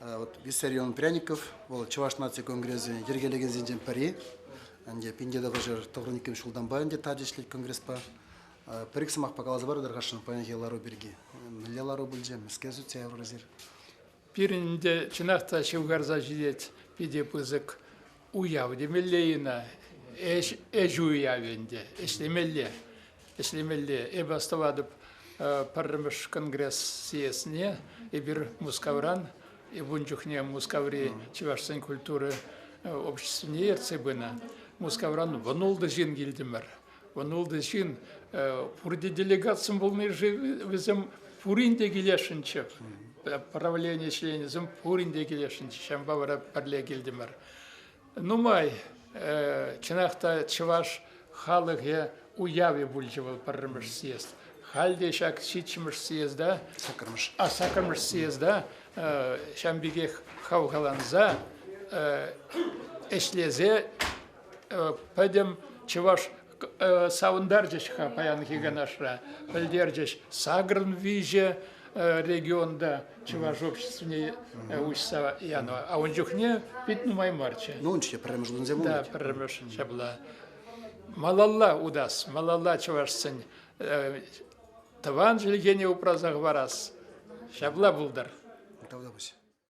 Вот Виссарион Пряников, вӑл Чӑваш наци конгресӗ йӗркелекенсенчен пӗри. Ӗнтӗ пинте тапӑшӑр тӑхӑр иккӗмӗш ҫултанпа ӗнтӗ тачӑ ӗҫлет конгреспа. Пӗр-ик сӑмах каласа парӑр тархасшӑн паянхи лару пирки. Мӗнле лару пулчӗ, мӗскер сутса яврӑр эсир? Пирӗн те чӑнах та ҫывхарса ҫитет питӗ пысӑк уяв темелле ӑна. Ӗҫ уявӗ ӗнтӗ, ӗҫлемелле, ӗҫлемелле. Эпӗ астӑватӑп пӗрремӗш конгресс сиесне. Эпир Мускавран, ун чухне Мускаври чӑвашсен культура обществине ертсе пынӑ. Мускавран вӑнултӑ ҫын килтӗмӗр. Вӑл ҫын пурте делегатсем пулни-ши вӗсем пурин те килесшӗнччӗ. Правлени членӗсем пурин те килесшӗнччӗ. Ҫавӑнпа вара пӗрле килтӗмӗр. Нумай, чӑнах та, чӑваш халӑхӗ уявӗ пулчӗ вӑл пӗрремӗш съезд. Халь те ҫак ҫиччӗмӗш съезда, саккӑрмӗш, а саккӑрмӗш съезда ҫавӑн пекех хавхаланса, ӗҫлесе пӗтӗм чӑваш савӑнтарчӗҫ-ха паянхи канашра, пӗлтерчӗҫ сакӑрӑн виҫӗ регионта чӑваш обществине уҫса янӑ. А ун чухне пит нумай марччӗ. Ну, унччен пӗрремӗш утӑнсе пулнӑ. Да, пӗрремӗш ҫапла. Малалла утас, малалла чӑвашсен тӑван чӗлхене упраса хӑварас. Ҫапла пултӑр. Тавтапуҫ.